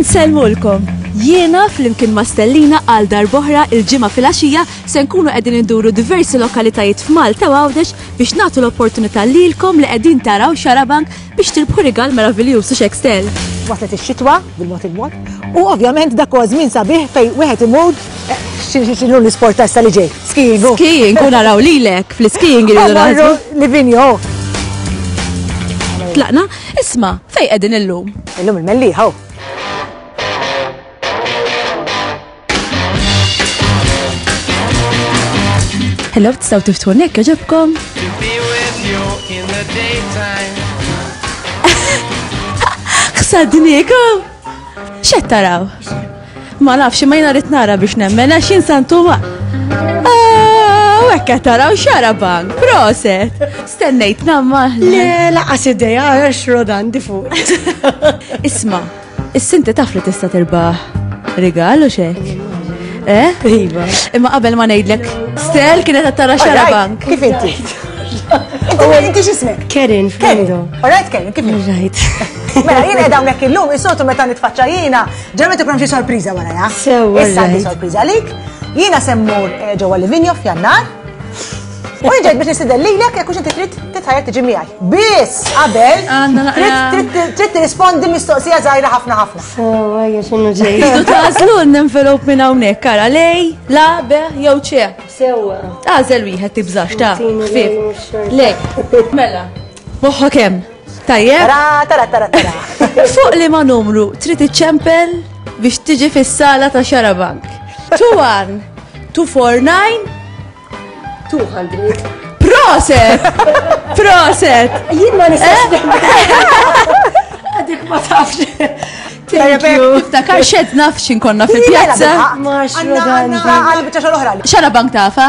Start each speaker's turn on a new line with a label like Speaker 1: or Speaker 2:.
Speaker 1: Insellmulkom! Jiena flimkien ma' Stellina għal darboħra il-ġimgħa fil-għaxija se nkunu qegħdin induru diversi lokalitajiet f'Malta u Għawdex biex nagħtu l-opportunità lilkom li qegħdin taraw xarabank biex tirbħu rigal meraviljuż u xekstel. Waslet ix-xitwa
Speaker 2: bil-mod il-mod u ovvjament dak huwa żmien sabiħ fejn wieħed imur eh, x'inhu l-isport ta' li ġej. Skiing u. Skiing u naraw
Speaker 1: lilek fl-skiing iridu naħsbu. Livigno. Tlaqna, isma, fej qegħdin illum? Illum il-melliħa. Hello, tistgħu tiftu nek, ġobkom? X'għaddniekom? X'qed taraw? Ma nafx, imma jiena rrid nara biex nemmen għax jien santu ma. Ah, u hekk qed taraw xara bank, proset. Stennejt namma. Le, laqas
Speaker 3: ideja għax rodan di fuq. Isma,
Speaker 1: is-sinti taf li tista' tirbaħ rigal u xek. Eh?
Speaker 3: Iva. Imma qabel ma
Speaker 1: ngħidlek, Stel kienet qed tara xara bank. Kif inti?
Speaker 2: Huwa inti x'ismek? Kerin Flendo.
Speaker 3: Alright Kerin, kif inti?
Speaker 2: Right. Mela
Speaker 3: jien qed
Speaker 2: hawnhekk illum isotu meta nitfaċċa jiena Ġa meta ikun xi sorpriża warajha. Sewa. Issa għandi sorpriża
Speaker 3: għalik.
Speaker 2: Jiena semmur eh, ġewwa Livinjo f'Jannar. U ġejt biex nistidel lilek jekk inti trid titħajja tiġi miegħi. Biss qabel trid tirrispondi mistoqsija żgħira ħafna ħafna.
Speaker 3: Sewa hija x'inhu ġej. Tidu tażlu
Speaker 1: n-envelop minn hawnhekk kara lej, la, be, jew ċe. Sewa.
Speaker 3: Tażel wieħed
Speaker 1: tibżax ta' ħfif. Lej. Mela. Moħħok hemm. Tajjeb. Ra, tara, tara,
Speaker 2: tara. Fuq li
Speaker 1: ma numru trid iċċempel biex tiġi fis-sala ta' Xarabank. 2-1, 2-4-9, 200.
Speaker 3: Proset!
Speaker 1: Proset! Jien ma nistax
Speaker 3: eh? Għadik ma tafx. Tiftakar
Speaker 1: xed nafx inkonna fil-pjazza.
Speaker 2: Xarabank tafa?